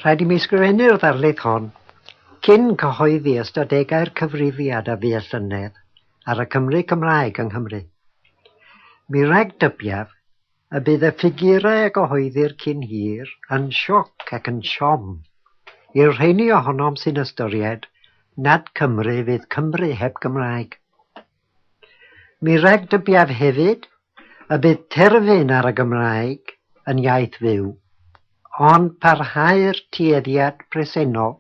Rhaid i mi ysgrifennu'r ddarlith hon cyn cyhoeddi ystadegau'r cyfrifiad a fu y llynedd ar y Cymry Cymraeg yng Nghymru. Mi ragdybiaf y bydd y ffigurau a gyhoeddir cyn hir yn sioc ac yn siom i'r rheiny ohonom sy'n ystyried nad Cymru fydd Cymru heb Gymraeg. Mi ragdybiaf hefyd y bydd terfyn ar y Gymraeg yn iaith fyw, ond parhau'r tueddiad presennol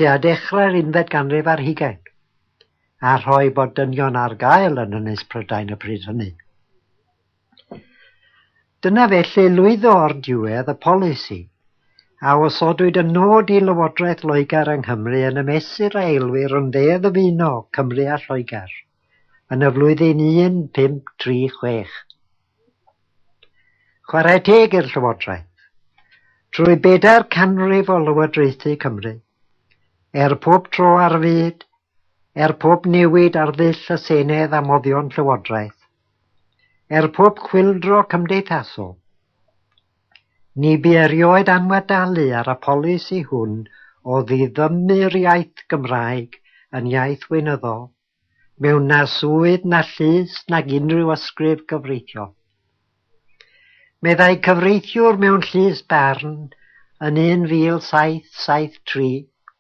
tua dechrau'r unfed ganrif ar hugain, a rhoi bod dynion ar gael yn Ynys Prydain y pryd hynny. Dyna felly lwyddo o'r diwedd y polisi, a osodwyd y nod i Lywodraeth Loegr yng Nghymru yn y mesur a elwir yn dde ddyfuno Cymru a Lloegr yn y flwyddyn 1536. Chwarae teg i'r Llywodraeth. Trwy bedair canrif o lywodraethu Cymru, er pob tro ar fyd, er pob newid ar ddull y Senedd a moddion Llywodraeth, Er pob chwyldro cymdeithasol, ni bu erioed anwadalu ar y polisi hwn o ddiddymu'r iaith Gymraeg yn iaith weinyddol mewn na swydd na llys nag unrhyw ysgrif gyfreithiol. Meddai cyfreithiwr mewn llys barn yn 1773,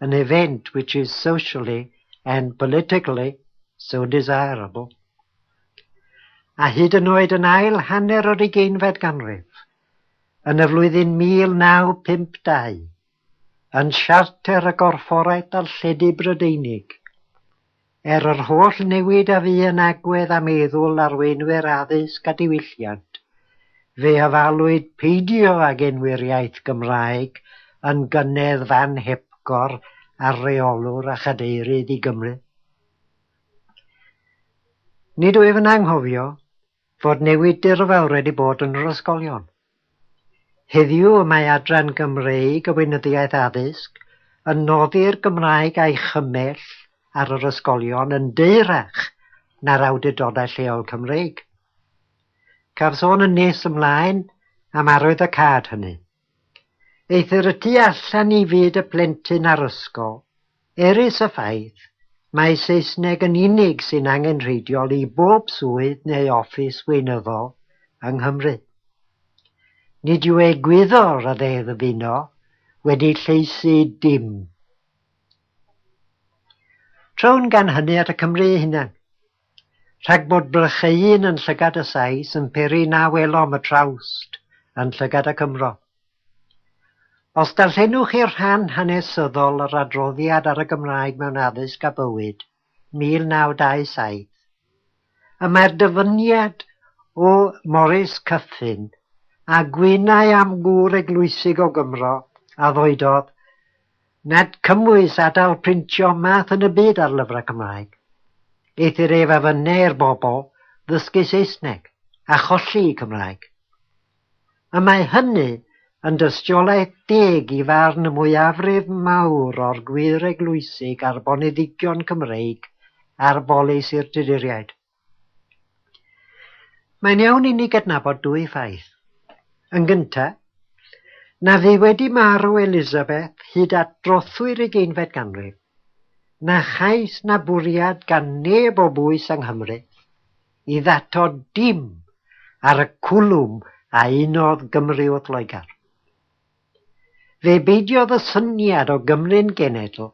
an event which is socially and politically so desirable, a hyd yn oed yn ail hanner yr ugeinfed ganrif, yn y flwyddyn 1952, yn Siarter y Gorfforaeth Darlledu Brydeinig, Er yr holl newid a fu yn agwedd a meddwl arweinwyr addysg a diwylliant, fe ofalwyd peidio ag enwi'r iaith Gymraeg yn gynnedd fan hepgor ar reolwr a chadeirydd i Gymru. Nid wyf yn anghofio fod newid dirfawr wedi bod yn yr ysgolion. Heddiw y mae Adran Gymreig y Weinyddiaeth Addysg yn noddi'r Gymraeg a'i chymell ar yr ysgolion yn deyrach na'r awdurdodau lleol Cymreig. Caf sôn yn nes ymlaen am arwyddocâd hynny. Eithr y tu allan i fyd y plentyn a'r ysgol, Erys y ffaith mai Saesneg yn unig sy'n angenrheidiol i bob swydd neu ofis weinyddol yng Nghymru. Nid yw egwyddor y Ddeddf Uno wedi lleisi dim. Trown gan hynny at y Cymry eu hunain. Rhag bod blych ei hun yn llygad y Sais yn peri na welom y trawst yn llygad y Cymro. Os darllenwch chi'r rhan hanesyddol yr adroddiad ar y Gymraeg mewn Addysg a Bywyd, 1927, y mae'r dyfyniad o Morris Cuffin, a gwynai am gŵr eglwysig o Gymro a ddoedodd Nad cymwys adael printio math yn y byd ar lyfrau Cymraeg. Eithr ef a fynneir bobl ddysgu Saesneg a cholli'u Cymraeg. Y mae hynny yn dystiolaeth deg i farn y mwyafrif mawr o'r gwyreglwysi garboneddigion Cymreig ar bolisi'r Tuduriaid. Mae'n iawn inni gydnabod dwy ffaith. Yn gynta, na fu wedi marw Elizabeth hyd at drothwy'r ugeinfed ganrif, na chais na bwriad gan neb o bwys yng Nghymru i ddato dim ar y cwlwm a unodd Gymru wrth Loegr. Fe beidiodd y syniad o Gymru'n genedl,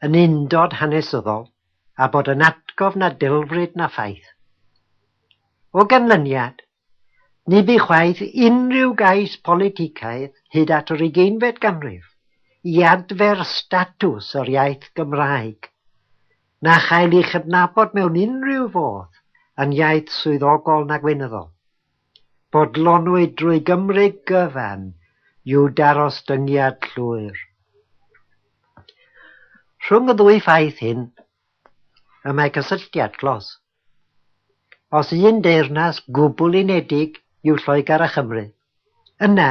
yn undod hanesyddol, a bod yn atgof na delfryd na ffaith. O ganlyniad, ni bu chwaith unrhyw gais politicaidd hyd at yr ugeinfed ganrif i adfer statws yr iaith Gymraeg, na chael ei chydnabod mewn unrhyw fodd yn iaith swyddogol na gweinyddol. Bodlonwyd drwy gymryd gyfan yw daros dyngiad llwyr. Rhwng y ddwy ffaith hyn y mae cysylltiad clos. Os un deyrnas gwbl unedig yw Lloegr a Chymru, yna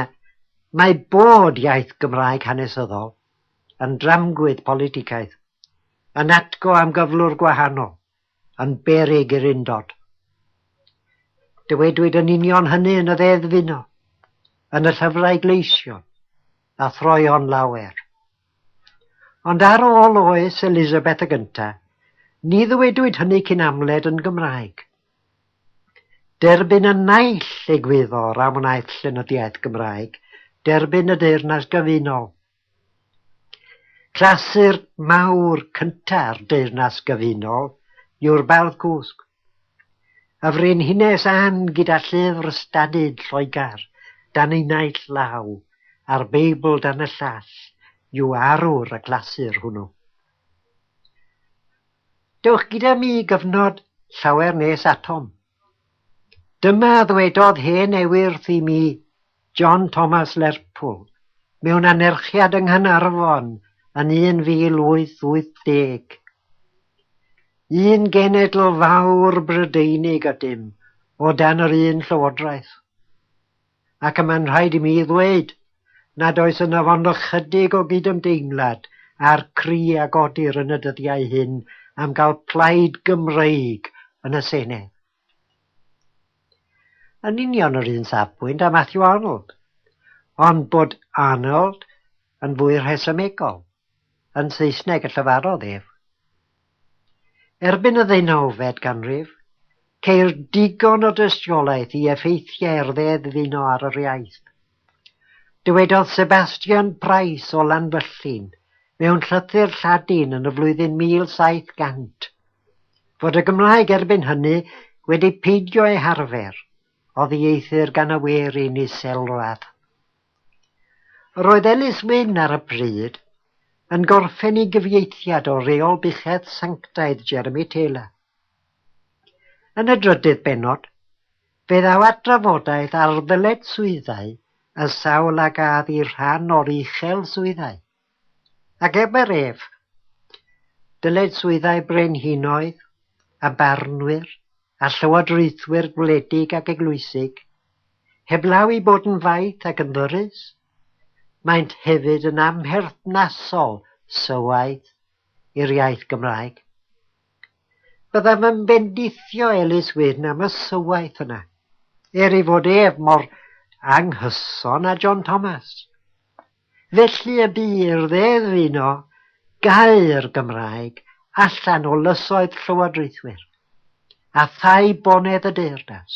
mae bod iaith Gymraeg hanesyddol yn dramgwydd politicaidd, yn atgo am gyflwr gwahanol yn beryg i'r undod. Dywedwyd yn union hynny yn y Ddeddf Uno, yn y llyfrau gleision, a throeon lawer. Ond ar ôl oes Elizabeth y Gynta, ni ddywedwyd hynny cyn amled yn Gymraeg. Derbyn y naill egwyddor a wnaeth llenyddiaeth Gymraeg derbyn y Deyrnas Gyfunol Clasur mawr cynta'r Deyrnas Gyfunol yw'r Bardd Cwsg, y frenhines Ann gyda llyfr ystadyd Lloegr dan ei naill law a'r Beibl dan y llall yw arwr y clasur hwnnw. Dewch gyda mi i gyfnod llawer nes atom, Dyma a ddwedodd hen ewyrth i mi, John Thomas Lerpwl, mewn anerchiad yng Nghanarfon yn 1880, Un genedl fawr Brydeinig ydym, o dan yr un llywodraeth. ac y mae'n rhaid i mi ddweud nad oes ynof ond ychydig o gydymdeimlad â'r cri a godir yn y dyddiau hyn am gael plaid Gymreig yn y Senedd. Yn union yr un safbwynt â Matthew Arnold, ond bod Arnold yn fwy rhesymegol, yn Saesneg y llefarodd ef. Erbyn y ddeunawfed ganrif, ceir digon o dystiolaeth i effeithiau'r ddeddfuno ar yr iaith. Dywedodd Sebastian Price o Lanfyllin mewn llythyr Lladin yn y flwyddyn 1700 fod y Gymraeg erbyn hynny wedi peidio ei harfer oddi eithr gan y werin iselradd. Roedd Ellis Wyn ar y pryd yn gorffen ei gyfieithiad o Reol Buchedd Sanctaidd Jeremy Taylor. Yn y drydydd bennod, fe ddaw at drafodaeth ar ddyletswyddau y sawl a gaf i rhan o'r uchel swyddau. Ac ebe'r ef, dylid swyddau brenhinoedd, a barnwyr, a llywodraethwyr gwledig ac eglwysig, heblaw i bod yn faith ac yn ddyrus, maent hefyd yn amherthnasol sylwaeth i'r iaith Gymraeg. Byddaf yn bendithio Elis Wyn am y sylwaeth yna, er ei fod ef mor anghyson â John Thomas. Felly y bu i'r Ddeddf uno gau'r Gymraeg allan o lysoedd llywodraethwyr a thai bonedd y deyrnas,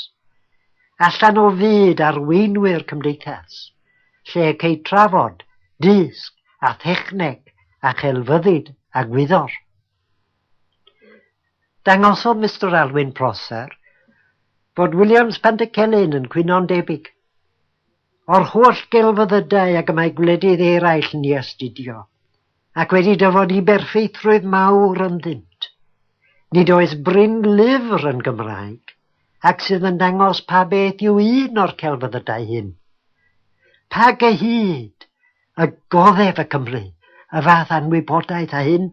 allan o fyd arweinwyr cymdeithas, lle y cei trafod, dysg a thechneg a chelfyddyd a gwyddor. Dangosodd Mister Alwyn Prosser fod Williams Pantycelyn yn cwyno'n debyg. O'r holl gelfyddydau ag y mae gwledydd eraill yn ei astudio, ac wedi dyfodi berffeithrwydd mawr ynddynt. Nid oes brin lyfr yn Gymraeg ac sydd yn dangos pa beth yw un o'r celfyddydau hyn. Pa gyhyd! Y goddef y Cymry, y fath anwybodaeth a hyn!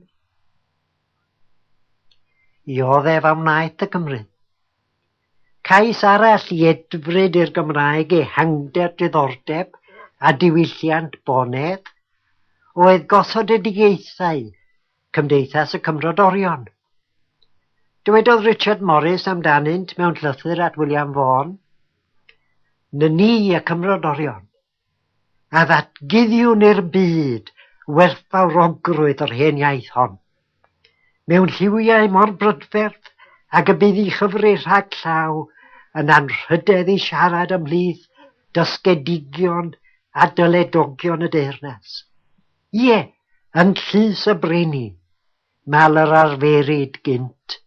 I oddef a wnaeth y Cymry. Cais arall i edfryd i'r Gymraeg ehangder diddordeb a diwylliant Bonedd oedd gothodidigaethau Cymdeithas y Cymrodorion. Dywedodd Richard Morris amdanynt mewn llythyr at William Vaughan, Ny ni y Cymrodorion. a ddatguddiwn i'r byd werthfawrogrwydd yr hen iaith hon. Mewn lliwiau mor brydferth ag y bydd i chyfri rhag llaw yn anrhydedd i siarad ymhlith dysgedigion a dyledogion y deyrnas. Ie, yn llys y brenin, mal yr arferid gynt.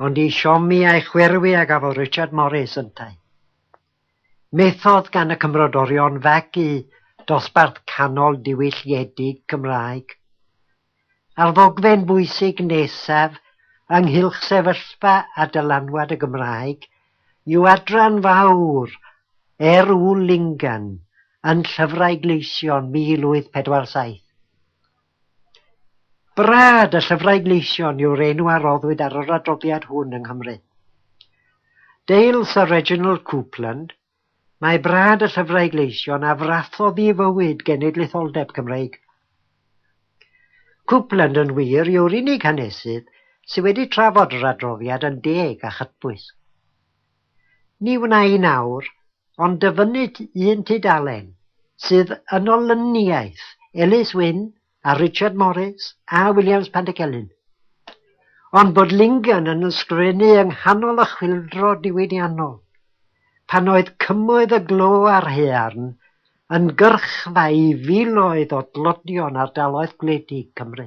Ond i siomi a'i chwyrwi a gafodd Richard Morris yntau. Methodd gan y Cymrodorion fagu dosbarth canol diwylliedig Cymraeg. A'r ddogfen bwysig nesaf ynghylch sefyllfa a dylanwad y Gymraeg yw adran fawr Er Ŵyl Lingan yn Llyfrau Gleision 1847. Brad, y llyfrau gleision yw'r enw a roddwyd ar yr adroddiad hwn yng Nghymru. Dale Sir Reginald Coupland, Mae Brad y Llyfrau Gleision a frathodd i fywyd genedlaetholdeb Cymreig. Coupland yn wir yw'r unig hanesydd sydd wedi trafod yr adroddiad yn deg a chytbwys. Ni wna i nawr, ond dyfynnu un tudalen sydd yn olyniaeth Ellis Wynne a Richard Morris a Williams Pantycelyn. Ond bod Lingen yn ysgrifennu yng nghanol y chwyldro diwydiannol, pan oedd cymoedd y glo a'r haearn yn gyrchfa i filoedd o dlodion ardaloedd gwledig Cymru.